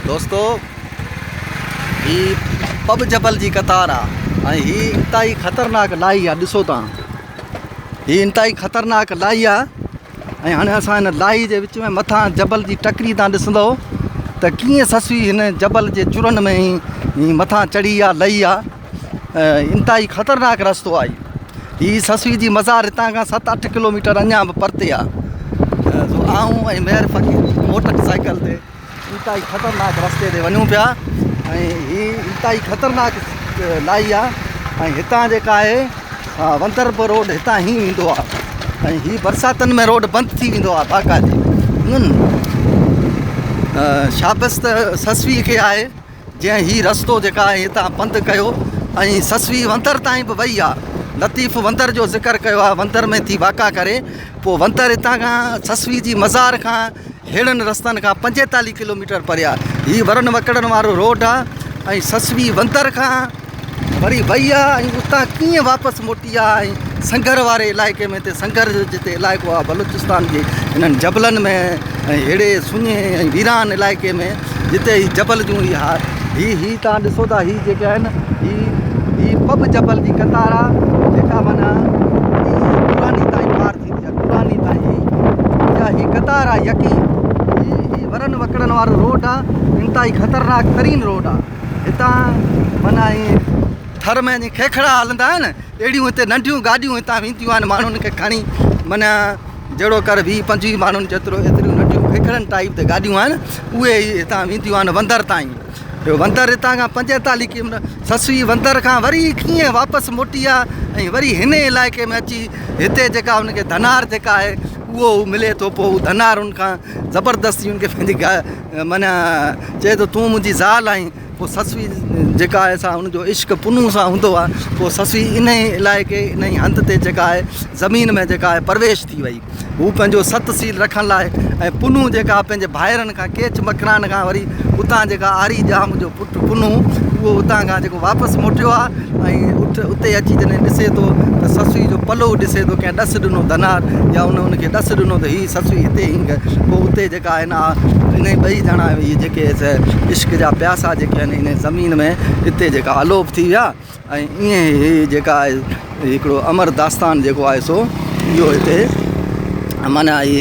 دوستو هي پٻ جبل جي قطار آ ۽ هي انتهائي خطرناڪ لاهي آ ڏسو تان هي انتهائي خطرناڪ لاهي آ ۽ هاڻي اسان هن لاهي جي وچ ۾ مٿان جبل جي ٽڪري تان ڏسندؤ ته ڪيئن سسوي هن جبل جي چرن ۾ هي مٿان چڙهي آ لهي آ انتهائي خطرناڪ رستو آهي هي سسوي جي مزار هتان کان ست اٺ ڪلوميٽر اڃا به پرتي آ سو آئون ۽ مير فقير موٽر سائيڪل تي انتهائي خطرناڪ رستي تي وڃون پيا ۽ هي انتهائي خطرناڪ لائي آ ۽ هتان جيڪا آهي وندرپور روڊ هتان هي ويندو آ ۽ هي برساتن ۾ روڊ بند ٿي ويندو آ باقاعدي شابس ته سسوي کي آهي جنهن هي رستو جيڪا آهي هتان پنڌ ڪيو ۽ سسوي وندر تائين به وئي آ لطيف وندر جو ذڪر ڪيو آ وندر ۾ ٿي واڪا ڪري پو وندر هتان کان سسوي جي مزار کان هيڙن رستن کان پنجيتالي ڪلوميٽر پري آ هي ورن وڪڙن وارو روڊ آ ۽ سسوي وندر کان وري وئي آ ۽ اتان ڪيئن واپس موٽي آ ۽ سنگر واري علائقي ۾ تي سنگر جو جتي علائقو آ بلوچستان جي انهن جبلن ۾ ۽ ههڙي سڃي ۽ ويران علائقي ۾ جتي هي جبل جون هي هار هي هي توهان ڏسو ٿا هي جيڪي آهن هي هي پب جبل جي قطار آ جيڪا معنيٰ هي دراني تائين پار ٿيندي آ دراني تائين هي جا هي قطار آ يڪي هي هي ورن وڪڙن وارو روڊ آ انتهائي خطرناڪ ترين روڊ آ هتان معنيٰ ائين ٿر ۾ جيئن کيکڙا هلندا آهن اهڙيون هتي ننڍيون گاڏيون هتان وينديون آهن ماڻهن کي کڻي معنيٰ جهڙو ڪر ويهه پنجويهه ماڻهن جيترو ايتريون ننڍيون کيکڙن ٽائيپ تي گاڏيون آهن اهي ئي هتان وينديون آهن وندر تائين ٻيو وندر هتان کان پنجيتاليهه ڪي سسوي وندر کان وري ڪيئن واپس موٽي آ ۽ وري هن علائقي ۾ اچي هتي جيڪا ان کي ڌنار جيڪا آهي اهو ملي ٿو پوء ڌنار ان کان زبردستي ان کي پنهنجي منهن چئي ٿو تون منهنجي زال آهين پوء سسئي جيڪا آهي سا ان جو عشق پنهون سان هوندو آهي پوء سسئي انهي علائقي انهي هنڌ تي جيڪا آهي زمين ۾ جيڪا آهي پرويش ٿي وئي هو پنهنجو ست سيل رکڻ لاء ۽ پنهون جيڪا پنهنجي ڀائرن کان ڪيچ مڪران کان وري اتان جيڪا آري ڄام جو پٽ پنهون اهو اتان کان جيڪو واپس موٽيو آهي ۽ اٺ اتي اچي جڏهن ڏسي ٿو ته سسئي جو پلو ڏسي ٿو ڪنهن ڏس ڏنو ڌنار يا ان ان کي ڏس ڏنو ته هي سسئي هتي هينگ پوء اتي جيڪا آهن آء انهي ٻئي ڄڻا اهي جيڪي عشق جا پياسا جيڪي آهن انهي زمين ۾ اتي جيڪا الوپ ٿي ويا ۽ ائين هي جيڪا آهي هڪڙو امر داستان جيڪو آهي سو اهو هتي معنيٰ اهي